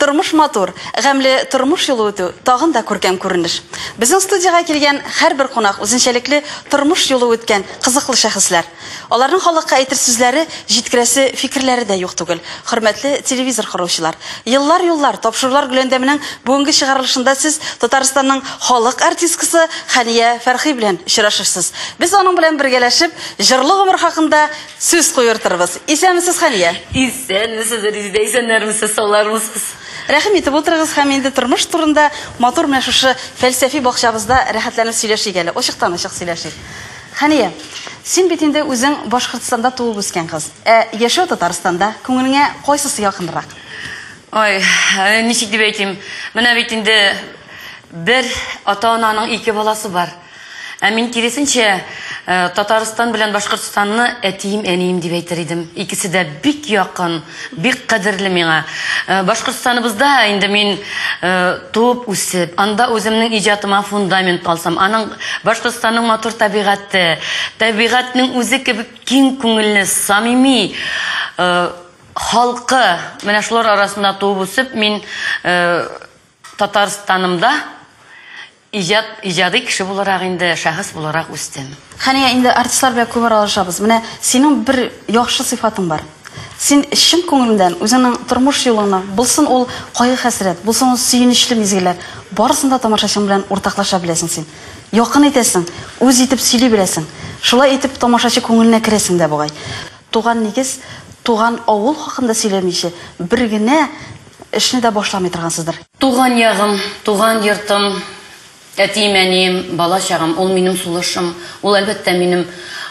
Тормыш матур, гамьле тормыш юлы үтү тагын да күркәм күренеш. Безнең студиягә килгән һәрбер кунак үзенчәлекле тормыш юлы үткән кызыклы шәхесләр. Аларның халыкка әйтер сүзләре, җиткерәсе фикерләре дә юк түгел. Хөрмәтле телевизор коручылар! Еллар юллар тапшырулар гөләндәменең бүгенге чыгарылышында сез Татарстанның халык артисткасы Хәния Фәрхи белән очрашырсыз. Без аның белән бергәләшеп җырлы гомер хакында Сүз куертырбыз. Исәнмесез, Хәния! Исәнмесез, Резидә, исәннәрмесез, саулармысыз? Рәхим итеп утырыгыз һәм инде тормыш турында матур менә шушы фәлсәфи бакчабызда рәхәтләнеп сөйләшик әле, ачыктан-ачык сөйләшик. Хәния, син бит инде үзең Башкортстанда туып-үскән кыз. Ә яшәү Татарстанда, күңелеңә кайсысы якынрак? Ой, ничек дип әйтим, менә бит инде бер ата-ананың ике баласы бар. Ә мин киресенчә, э, Татарстан белән Башкортстанны әтием, әнием дип әйтер идем. Икесе дә бик якын, бик кадерле миңа. Э, Башкортстаныбызда инде мин э, туып үсеп, анда үземнең иҗатыма фундамент алсам, аның Башкортстанның матур табигате, табигатьнең үзе кебек киң күңелле, самими э, халкы, менә шулар арасында туып үсеп, мин э, Татарстанымда Иҗат, иҗади кеше буларак инде, шәхес буларак үстем. Хәния, инде артистлар белән күп аралашабыз. Менә синең бер яхшы сыйфатың бар. Син чын күңелдән үзеңнең тормыш юлыңны, булсын ул кайгы-хәсрәт, булсын ул сөенечле мизгелләр, барысын да тамашачың белән уртаклаша беләсең син. Якын итәсең, үз итеп сөйли беләсең. Шулай итеп тамашачы күңеленә керәсең дә бугай. Туган нигез, туган авыл хакында сөйләмичә, бер генә Эшне дә башламый торгансыздыр? Туган ягым, туган йортым, әтием, әнием, бала чагым, ул минем сулышым, ул, әлбәттә, минем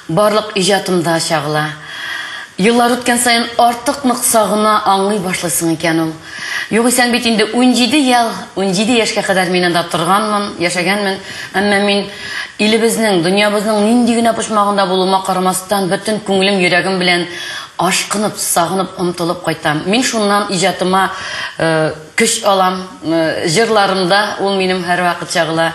барлык иҗатымда чагыла. Еллар үткән саен артык нык сагына, аңлый башлыйсың икән ул. Югыйсәң бит инде унҗиде ел, унҗиде яшькә кадәр мин анда торганмын, яшәгәнмен, әмма мин илебезнең, дөньябызның нинди генә почмагында булуыма карамастан, бөтен күңелем, йөрәгем белән Ашкынып, сагынып, омтылып кайтам. Мин шуннан иҗатыма көч алам. Җырларымда ул минем һәрвакыт чагыла.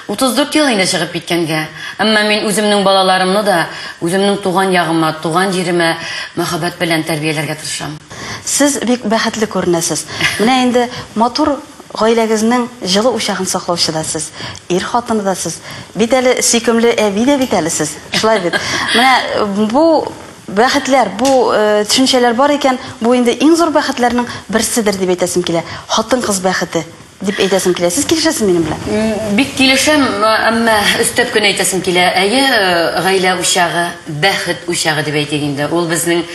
34 ел инде чыгып киткәнгә, әмма мин үземнең балаларымны да үземнең туган ягыма, туган җиремә мәхәббәт белән тәрбияләргә тырышам. Сез бик бәхетле күренәсез. Менә инде матур гаиләгезнең җылы учагын саклаучы да сез, ир хатыны да сез. Бит әле сөйкемле әби дә бит әле сез. Шулай бит? Менә бу Бәхетләр, бу төшенчәләр бар икән, бу инде иң зур бәхетләрнең берседер дип әйтәсем килә. Хатын-кыз бәхете дип әйтәсем килә. Сез килешәсез минем белән? Бик килешәм, әмма өстәп кенә әйтәсем килә. Әйе, гаилә учагы, бәхет учагы дип әйтик инде. Ул безнең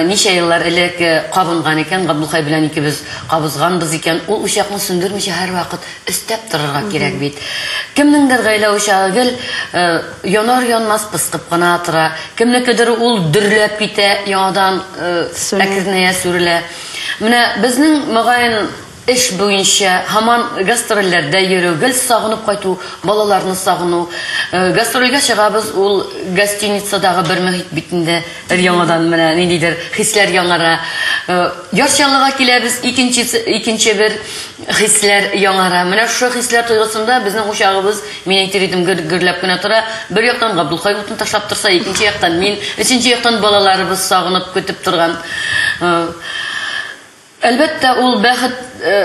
ничә еллар элек кабынган икән, Габдулхай белән икебез кабызганбыз икән. Ул учакны сүндермичә һәрвакыт Өстәп торырга кирәк бит. Кемнеңдер гаилә учагы гел э, янар-янмас пыскып кына тора. Кемнекедер ул дөрләп китә, яңадан э, Сүрелә. әкренәя сүрелә. Менә безнең, мөгаен, эш буенча һаман гастрольләрдә йөрү, гел сагынып кайту, балаларны сагыну. Э, Гастрольгә чыгабыз, ул гостиницадагы бер мөхит бит инде. Өр-яңадан менә ниндидер хисләр яңара. Э, Яз чаллыга киләбез, икенче, икенче бер хисләр яңара. Менә шушы хисләр тойгысында безнең учагыбыз, мин әйтер идем, гөр, гөрләп кенә тора. Бер яктан Габдулхай утын ташлап торса, икенче яктан мин, өченче яктан балаларыбыз сагынып көтеп торган. Э, Әлбәттә, ул бәхет э,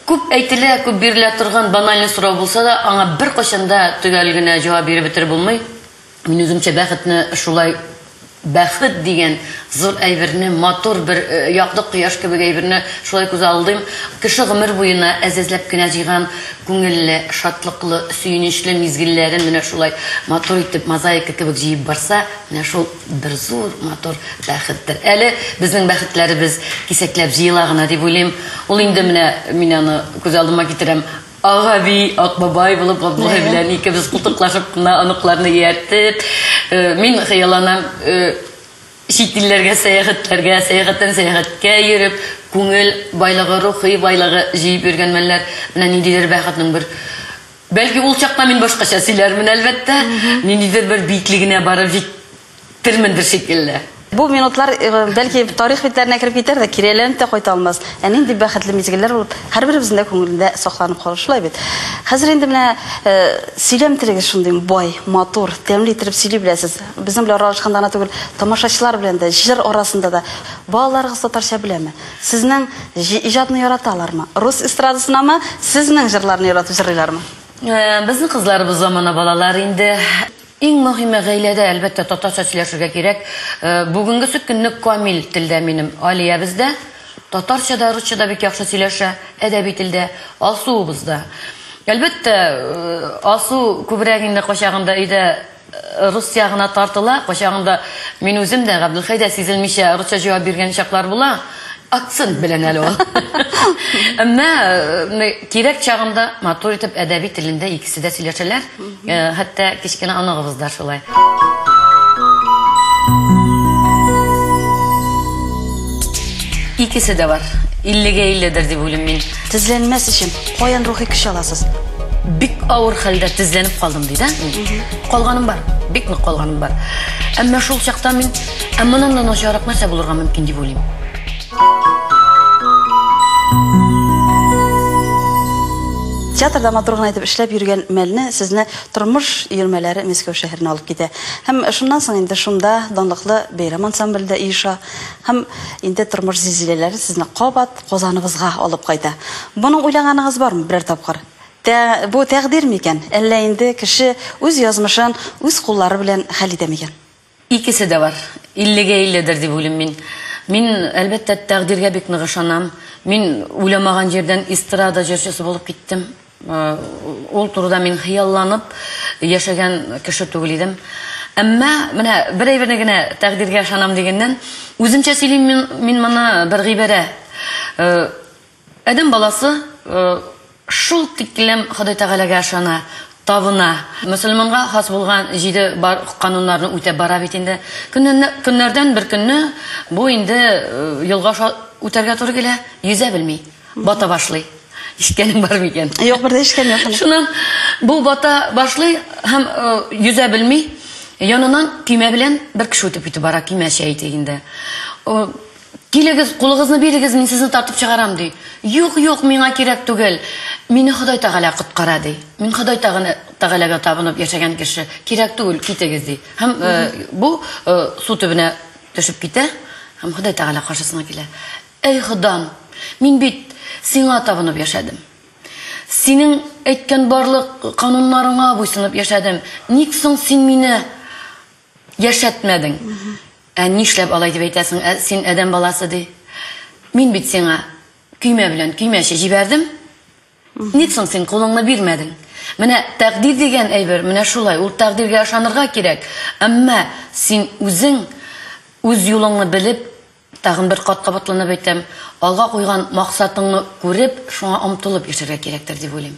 күп әйтелә, күп бирелә торган банальный сорау булса да, аңа бер кайчан да төгәл генә җавап биреп бетереп булмый. Мин үземчә бәхетне шулай Бәхет дигән зур әйберне, матур бер якты кояш кебек әйберне шулай күз алдыйм. Кеше гомер буена әз-әзләп кенә җыйган күңелле, шатлыклы, сөенечле мизгелләрен менә шулай матур итеп мозаика кебек җыеп барса, менә шул бер зур матур бәхеттер. Әле безнең бәхетләребез кисәкләп җыела гына дип уйлыйм. Ул инде менә мин аны күз алдыма китерәм, Ак әби, ак бабай булып Габдулла белән икебез култыклашып кына оныкларны ияртеп, э, мин хыялланам, э, чит илләргә сәяхәтләргә, сәяхәттән сәяхәткә йөреп, күңел байлыгы, рухи байлыгы җыеп йөргән мәлләр, менә ниндидер бәхетнең бер Бәлки ул чакта мин башкача сөйләрмен, әлбәттә, ниндидер бер биеклегенә барып җит Телмендер шикелле. Бу минутлар, бәлки, тарих битләренә кереп китәр дә, кире әйләнеп тә кайта алмас. Ә нинди бәхетле мизгелләр булып, һәрберебезнең дә күңелендә сакланып калыр, шулай бит? Хәзер инде менә сөйләм телегез шундый бай, матур, тәмле иттереп сөйли беләсез. Безнең белән аралашканда гына түгел, тамашачылар белән дә, җыр арасында да. Балаларыгыз татарча беләме? Сезнең иҗатны яраталармы? Рус эстрадасынамы, сезнең җырларны яратып җырлыйлармы? Безнең кызларыбыз замана балалары инде. Иң мөһиме, гаиләдә, әлбәттә, татарча сөйләшергә кирәк. Бүгенгесе көнне камил телдә минем Алиябез дә, татарча да, русча да бик яхшы сөйләшә, әдәби телдә, Алсуыбыз да. Әлбәттә, Алсу күбрәк инде кайчагында өйдә рус ягына тартыла, кайчагында мин үзем дә, Габделхәй дә сизелмичә русча җавап биргән чаклар була. Акцент белән әле ул. Әмма э, кирәк чагында матур итеп әдәби телендә икесе дә сөйләшәләр. Э, хәтта кечкенә оныгыбыз да шулай. Икесе дә бар. 50-гә 50-дер дип уйлыйм мин. Тезләнмәс өчен каян рухи көч аласыз? бик авыр хәлдә тезләнеп калдым дейді калганым бар бик нык калганым бар әмма шул чакта мин Ә моннан да начаррак нәрсә булырга мөмкин дип уйлыйм. Театрда матур гына итеп эшләп йөргән мәлне сезне тормыш йөрмәләре Мәскәү шәһәренә алып китә. Һәм шуннан соң инде шунда данлыклы бәйрәм ансамбле дә иеша. Һәм инде тормыш зилзиләләре сезне кабат Казаныбызга алып кайта. Моның уйлаганыгыз бармы берәр тапкыр? Тә, бу тәкъдир микән? Әллә инде кеше үз язмышын үз куллары белән хәл итә микән? Икесе дә бар. Иллегә илледер дип уйлыйм мин. Мин, әлбәттә, тәкъдиргә бик нык ышанам. Мин уйламаган җирдән эстрада җырчысы булып киттем. Ул турыда мин хыялланып яшәгән кеше түгел идем. Әмма, менә бер әйберне генә тәкъдиргә ышанам дигәннән, үземчә сөйлим мин моны бер гыйбарә. Адәм баласы шул тиклем Ходай Тәгаләгә ышана, табына. Мөселманга хас булган җиде бар кануннарны үтәп бара бит инде. Көннәрдән бер көнне бу инде елга аша үтәргә туры килә, йөзә белми, бата башлый. Ишеткәнең бар микән? Юк, бер дә ишеткән юк. Шуннан бу бата башлый һәм йөзә белми, яныннан көймә белән бер кеше үтеп китеп бара, көймә чәй ди инде. Килегез, кулыгызны бирегез, мин сезне тартып чыгарам, ди. Юк, юк, миңа кирәк түгел. Мине Ходай Тәгалә коткара, ди. Мин Ходай Тәгаләгә табынып яшәгән кеше. Кирәк түгел, китегез, ди. Һәм бу су төбенә төшеп китә һәм Ходай Тәгалә каршысына килә. Әй Ходам, мин бит Сиңа табынып яшәдем. Синең әйткән барлык кануннарыңа буйсынып яшәдем. Ник соң Син мине Яшәтмәдең. Ә нишләп алай дип әйтәсең? Ә син адәм баласы ди. Мин бит сиңа көймә белән көймәче җибәрдем. Ник соң син кулыңны бирмәдең? Менә тәкъдир дигән әйбер менә шулай. Ул тәкъдиргә ышанырга кирәк. Әмма син үзең үз юлыңны белеп, тагын бер кат кабатланып әйтәм, алга куйган максатыңны күреп, шуңа омтылып яшәргә кирәктер дип уйлыйм.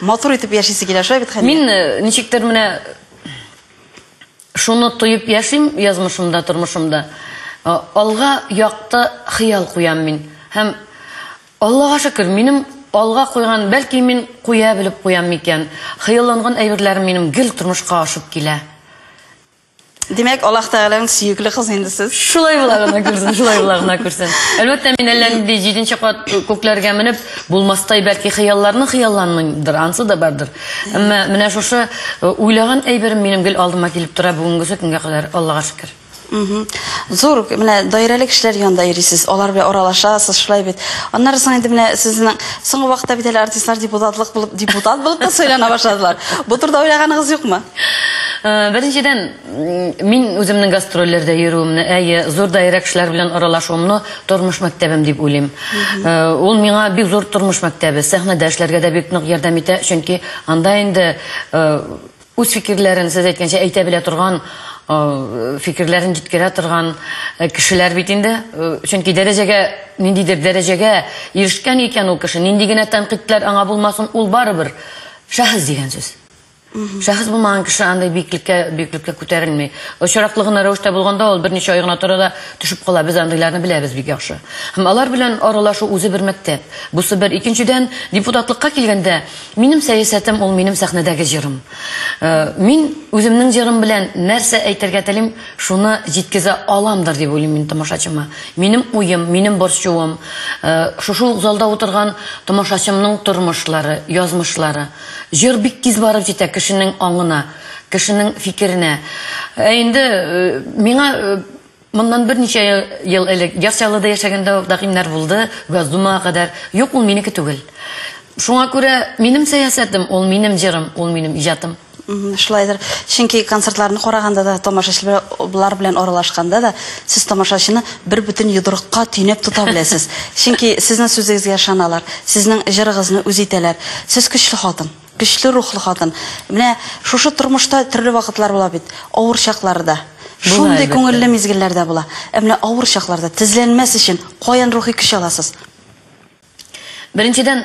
Матур итеп яшисе килә, шулай бит, Хәния? Мин э, ничектер менә шуны тоеп яшим язмышымда, тормышымда. Э, алга якты хыял куям мин. Һәм Аллага шөкер, минем алга куйган, бәлки мин куя белеп куям микән? Хыялланган әйберләрем минем гел тормышка ашып килә. Димәк, Аллаһ Тәгаләнең сөекле кызы инде сез. Шулай була гына күрсен, шулай була гына күрсен. Әлбәттә, мин әллә нинди җиденче кат күкләргә менеп, булмастай бәлки хыялларны хыялланмыймдыр, ансы да бардыр. Әмма менә шушы э, уйлаган әйберем минем гел алдыма килеп тора бүгенгесе көнгә кадәр, Аллага шөкер. Зур, менә даирәле кешеләр янында йөрисез, алар белән аралашасыз, шулай бит. Аннары соң инде менә сезнең соңгы вакытта бит әле артистлар депутатлык булып, депутат булып та сайлана башладылар. Бу турыда уйлаганыгыз юкмы? Э, беренчедән, мин үземнең гастрольләрдә йөрүемне, әйе, зур даирә кешеләр белән аралашуымны тормыш мәктәбем дип уйлыйм. Э, ул миңа бик зур тормыш мәктәбе, сәхнәдә эшләргә дә бик нык ярдәм итә, чөнки анда инде э, үз фикерләрен, сез әйткәнчә, әйтә белә торган фикерләрен җиткерә торган кешеләр бит инде. Чөнки дәрәҗәгә, ниндидер дәрәҗәгә ирешкән икән ул кеше, нинди генә тәнкыйтьләр аңа булмасын, ул барыбер шәхес дигән сүз. Шәхес булмаган кеше андай биеклеккә биеклеккә күтәрелми. Очраклы гына рәвештә булганда ул берничә ай гына тора да төшеп кала. Без андыйларны беләбез бик яхшы. Һәм алар белән аралашу үзе бер мәктәп. Бусы бер. Икенчедән, депутатлыкка килгәндә, минем сәясәтем ул минем сәхнәдәге җырым. Э, мин үземнең җырым белән нәрсә әйтергә телим, шуны җиткезә аламдыр дип уйлыйм мин тамашачыма. Минем уем, минем борчуым, э, шушы ук залда утырган тамашачымның тормышлары, язмышлары. Җыр бик тиз барып җитә кешенең аңына, кешенең фикеренә. Ә инде миңа моннан берничә ел элек Яр Чаллыда яшәгәндә үк тәкъдимнәр булды, Газдумага кадәр. Юк, ул минеке түгел. Шуңа күрә минем сәясәтем, ул минем җырым, ул минем иҗатым. Шулайдыр. Чөнки концертларны караганда да, тамашачылар белән аралашканда да, сез тамашачыны Бер бөтен йодрыкка төйнәп тота беләсез. Чөнки сезнең сүзегезгә ышаналар, сезнең җырыгызны үз итәләр. Сез көчле хатын, көчле рухлы хатын. Менә шушы тормышта төрле вакытлар була бит, авыр чаклары да. Шундый күңелле мизгелләр дә була. Ә менә авыр чакларда тезләнмәс өчен каян рухи көч аласыз? Беренчедән,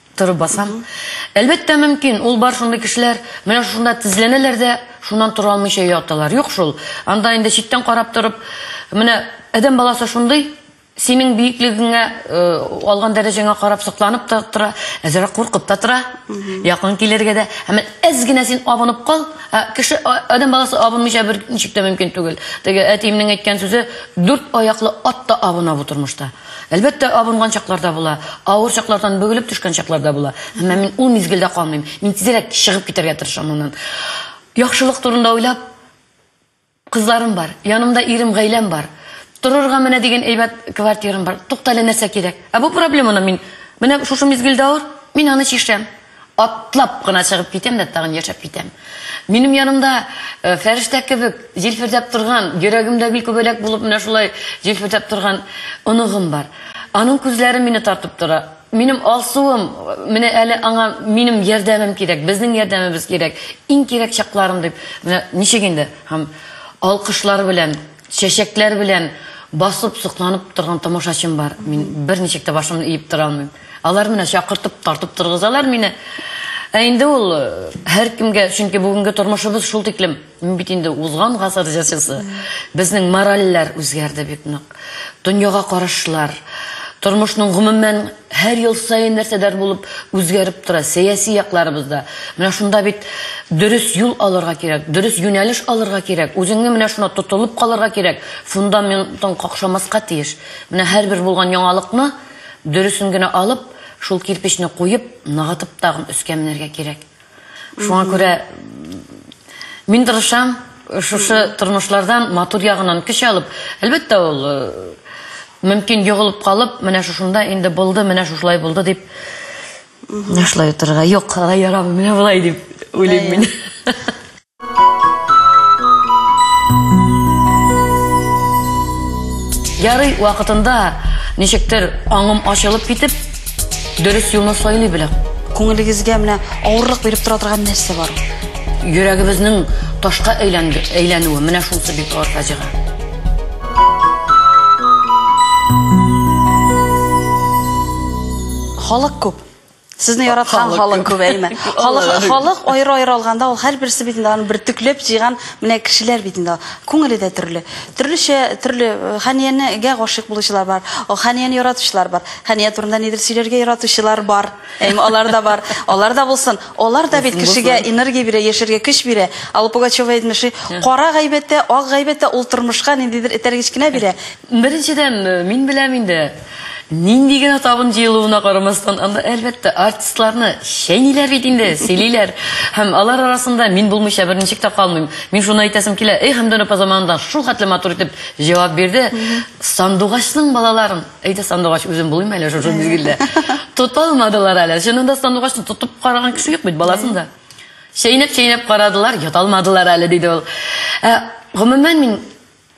Торып басам. Әлбәттә, мөмкин. Ул бар шундый кешеләр. Менә шушында тезләнәләр дә, шуннан тора алмыйча яталар. Юк шул. Анда инде читтән карап торып, менә адәм баласы шундый, синең биеклегеңә, э, алган дәрәҗәңә карап сокланып та тора, әзрәк куркып та тора. Якын килергә дә. Һәм әз генә син абынып кал. Ә кеше а- адәм баласы абынмыйча бер ничек тә мөмкин түгел. Теге әтиемнең әйткән сүзе, дүрт аяклы ат та абына бу тормышта. Әлбәттә, абынган чаклар да була, авыр чаклардан бөгелеп төшкән чаклар да була. Әмма мин ул мизгелдә калмыйм. Мин тизрәк чыгып китәргә тырышам моннан. Яхшылык турында уйлап, кызларым бар, янымда ирем, гаиләм бар. Торырга менә дигән әйбәт квартирам бар. Туктале нәрсә кирәк? Ә бу проблеманы мин менә шушы мизгелдә авыр, мин аны чишәм. Атлап кына чыгып китәм дә тагын яшәп китәм. Минем янымда э, фәрештә кебек җилфердәп торган, йөрәгемдә гел күбәләк булып менә шулай җилфердәп торган оныгым бар. Аның күзләре мине тартып тора. Минем алсуым, менә әле аңа минем ярдәмем кирәк, безнең ярдәмебез кирәк, иң кирәк чакларым дип, менә ничек инде, һәм алкышлар белән Чәчәкләр белән басып, сокланып торган тамашачым бар. Мин берничек тә башымны иеп тора алмыйм. Алар менә чакыртып, тартып торгызалар мине. Ә инде ул һәркемгә, чөнки бүгенге тормышыбыз шул тиклем, мин бит инде узган гасыр җырчысы. Безнең моральләр үзгәрде бик нык. Дөньяга карашлар, тормышның гомумән Һәр ел саен нәрсәдер булып үзгәреп тора, сәяси якларыбыз да. Менә шунда бит дөрес юл алырга кирәк, дөрес юнәлеш алырга кирәк, үзеңне менә шуна тотылып калырга кирәк, фундаментың какшамаска тиеш. Менә һәрбер булган яңалыкны дөресен генә алып, шул кирпечне куеп, ныгытып тагын өскә менәргә кирәк. Шуңа күрә мин тырышам, шушы тормышлардан матур ягынан көч алып, әлбәттә ул э, мөмкин йогылып калып, менә шушында инде булды, менә шушылай булды дип шулай утырырга. Юк, алай ярамый, менә болай дип уйлыйм мин. Ярый, вакытында ничектер аңым ачылып китеп, дөрес юлны сайлый белә. Күңелегезгә менә авырлык биреп тора торган нәрсә бар? Йөрәгебезнең ташка әйләнде, әйләнүе, менә шунысы бик авыр фаҗига. Халык күп. Сезне яраткан халык күбәйме? Халык халык аеры-аеры алганда ул һәрберсе бит инде аны бөртекләп җыйган менә кешеләр бит инде. Күңеле дә төрле. Төрлечә төрле э, Хәниянегә гашыйк булучылар бар. О, Хәнияне яратучылар бар. Хәния турында нидер сөйләргә яратучылар бар. Әм алар да бар. Алар да булсын. Алар да бит кешегә энергия бирә, яшәргә көч бирә. Алла Пугачева әйтмеши, кара гайбәттә, ак гайбәттә ул тормышка ниндидер этәргеч кенә бирә. Беренчедән, э, мин беләм инде, Нинди генә табын җыелуына карамастан, анда әлбәттә артистларны чәйниләр бит инде, сөйлиләр. Һәм алар арасында мин булмыйча бер ничек тә калмыйм. Мин шуны әйтәсем килә, эй, Хәмдүн апа заманында шул хәтле матур итеп җавап бирде. Сандугачның балаларын, әйдә сандугач үзем булыйм әле шушы мизгелдә. Тота алмадылар әле. Чынында сандугачны тотып караган кеше юк бит баласын да. Чәйнәп-чәйнәп карадылар, ята алмадылар әле, диде ул. Ә, гомумән мин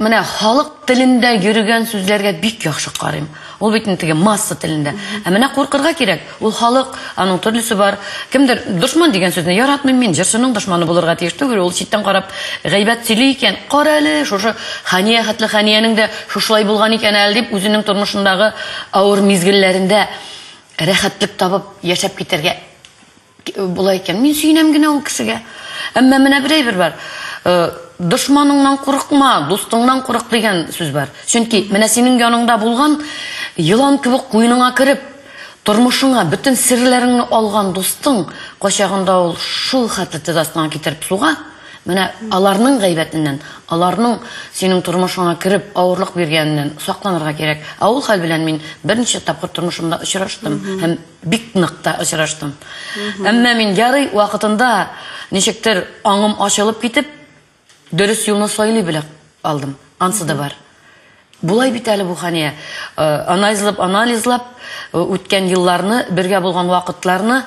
Менә халык телендә йөрегән сүзләргә бик яхшы карыйм. Ул бит инде теге масса телендә. Ә менә куркырга кирәк. Ул халык, аның төрлесе бар. Кемдер дошман дигән сүзне яратмыйм мин, җырчының дошманы булырга тиеш түгел, ул читтән карап гайбәт сөйли икән, кара әле, шушы Хәния хәтле Хәниянең дә шушылай булган икән әле дип, үзенең тормышындагы авыр мизгелләрендә рәхәтлек табып яшәп китәргә Болай икән, мин сөенәм генә ул кешегә. Әмма менә бер әйбер бар. Дошманыңнан курыкма, дустыңнан курык дигән сүз бар. Чөнки менә синең яныңда булган елан кебек куеныңа кереп, тормышыңа бөтен серләреңне алган дустың качагында ул шул хәтле тез астыңа китереп суга, менә аларның гайбәтеннән, аларның синең тормышыңа кереп авырлык биргәненнән сакланырга кирәк. Ә ул хәл белән мин берничә тапкыр тормышымда очраштым һәм Бик нык та очраштым. Әмма мин ярый вакытында ничектер аңым ачылып китеп, дөрес юлны сайлый белә алдым. Ансы да бар. Булай бит әле бу Хания. Э, анализлап, анализлап э, үткән елларны, бергә булган вакытларны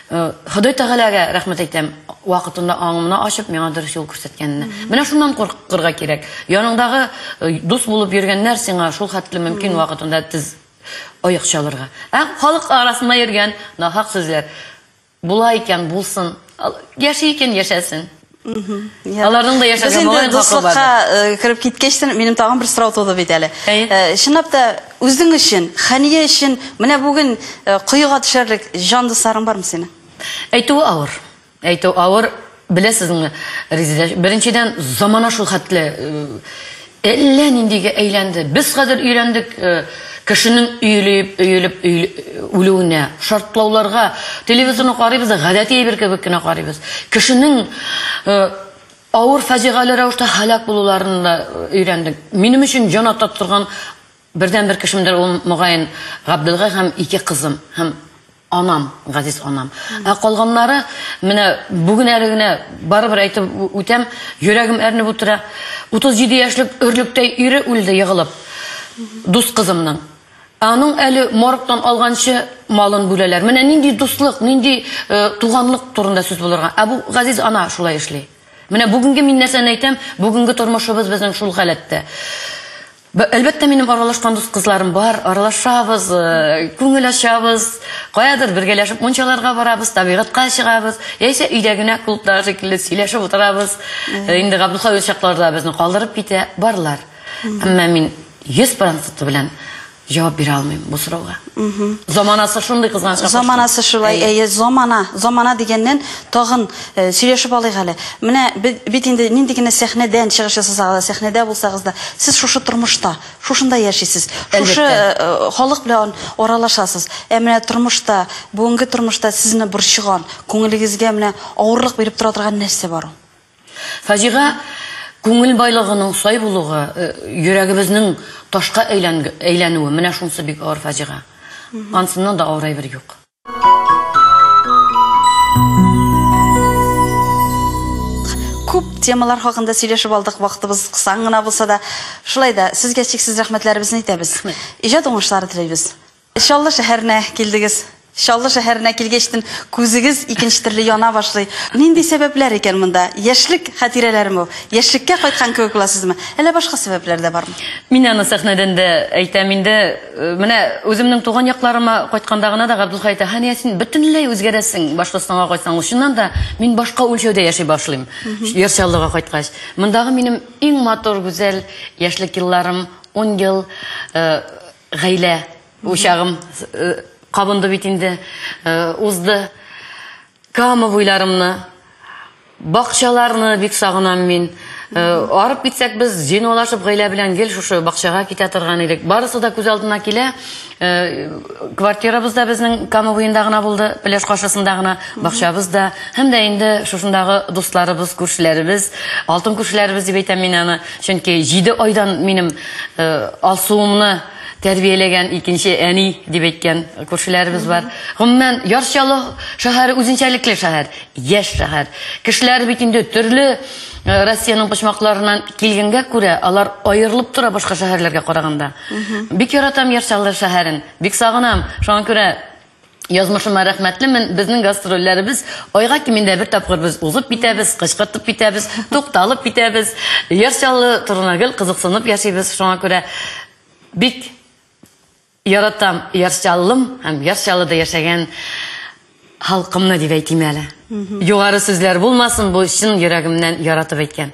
э, Ходай Тәгаләгә рәхмәт әйтәм, вакытында аңымны ачып, миңа дөрес юл күрсәткәненә. Менә шуннан куркырга кирәк. Яныңдагы дус булып йөргәннәр сиңа шул хәтле мөмкин вакытында тез Оек чалырга. Ә халык арасында йөргән нахак сүзләр. Була икән, булсын. Яши икән, яшәсен. Аларның да яшәргә Без инде дуслыкка э, кереп киткәчтен минем тагын бер сорау туды бит әле. Э, чынлап та үзең өчен, Хәния өчен менә бүген э, коега төшәрлек җан дусларың бармы синең? Әйтүе авыр. Әйтү авыр, беләсезме, Резеда, беренчедән, замана шул хәтле әллә ниндигә әйләнде. Без хәзер өйрәндек кешенең өелеп, өелеп, үлүенә, шартлауларга, телевизорны карыйбыз да, гадәти әйбер кебек кенә карыйбыз. Кешенең авыр фаҗигале рәвештә һәлак булуларын да өйрәндек. Минем өчен җан ата торган бердәнбер кешемдер ул, мөгаен, Габделгай һәм ике кызым, һәм Анам, газиз анам. Ә калганнары, менә бүген әле генә барыбер әйтеп үтәм, йөрәгем әрнеп утыра. 37 яшьлек өрлектәй ире үлде егылып. Дус кызымның. Аның әле моргтан алганчы малын бүләләр. Менә нинди дуслык, нинди э, туганлык турында сүз булырга. Ә бу газиз ана шулай эшли. Менә бүгенге мин нәрсәне әйтәм, бүгенге тормышыбыз безнең шул халәттә. Әлбәттә, минем аралашкан дус-кызларым бар, аралашабыз, э, күңел ачабыз, каядыр бергәләшеп мунчаларга барабыз, табигатька чыгабыз, яисә өйдә генә клубтагы шикелле сөйләшеп утырабыз. Э, инде Габдулхавил чакларда безне калдырып китә, барлар. Әмма мин 100 проценты белән җавап бирә алмыйм бу сорауга. Заманасы шундый кызганычка Заманасы шулай, әйе, замана. Замана дигәннән тагын э, сөйләшеп алыйк әле. Менә бит инде нинди генә сәхнәдән чыгыш ясасагыз да, сәхнәдә булсагыз да, сез шушы тормышта, шушында яшисез. Шушы э, э, халык белән аралашасыз. Ә менә тормышта, бүгенге тормышта сезне борчыган, күңелегезгә менә авырлык биреп тора торган нәрсә бар ул? Фаҗига күңел байлыгының сай булуга, йөрәгебезнең ташка әйләнүе, менә шунсы бик авыр фаҗига. Ансыннан да авыр әйбер юк. Күп темалар хакында сөйләшеп алдык, вакытыбыз кысан гына булса да. Шулай да, сезгә чиксез рәхмәтләребезне әйтәбез. Иҗат уңышлары телибез. Чаллы шәһәренә килдегез. Чаллы шәһәренә килгәчтен күзегез икенче төрле яна башлый. Нинди сәбәпләр икән монда? Яшьлек хатирәләреме ул? Яшьлеккә кайткан кебек буласызмы? Әллә башка сәбәпләр дә бармы? Мин аны сәхнәдән дә әйтәм инде. Э, менә үземнең туган якларыма кайтканда гына да Габдулхай әйтә, Хәния, син бөтенләй үзгәрәсең Башкортстанга кайтсаң. Чыннан да мин башка үлчәүдә яши башлыйм. Яр Чаллыга кайткач. Мондагы минем иң матур, гүзәл яшьлек елларым, 10 ел э, Гаилә учагым кабынды бит инде, узды. Кама буйларымны, бакчаларны бик сагынам мин. Арып китсәк без зинолашып гаилә белән гел шушы бакчага китә торган идек. Барысы да күз алдына килә. Квартирабыз да безнең Кама буенда гына булды, пляж каршысында гына, бакчабыз да. Һәм дә инде шушындагы дусларыбыз, күршеләребез, алтын күршеләребез дип әйтәм мин аны. Чөнки җиде айдан минем э, Алсуымны тәрбияләгән икенче әни дип әйткән күршеләребез бар. Гомумән, Яр Чаллы шәһәре үзенчәлекле шәһәр, яшь шәһәр. Кешеләр бит инде төрле э, Россиянең почмакларыннан килгәнгә күрә, алар аерылып тора башка шәһәрләргә караганда. Бик яратам Яр Чаллы шәһәрен, бик сагынам. Шуңа күрә Язмышыма рәхмәтлемен. Безнең гастрольләребез айга кимендә бер тапкыр без узып китәбез, кычкыртып китәбез, тукталып китәбез. Яр Чаллы турына гел кызыксынып яшибез. Шуңа күрә бик яратам Яр Чаллым һәм Яр Чаллыда яшәгән халкымны дип әйтим әле. Югары сүзләр булмасын, бу чын йөрәгемнән яратып әйткән.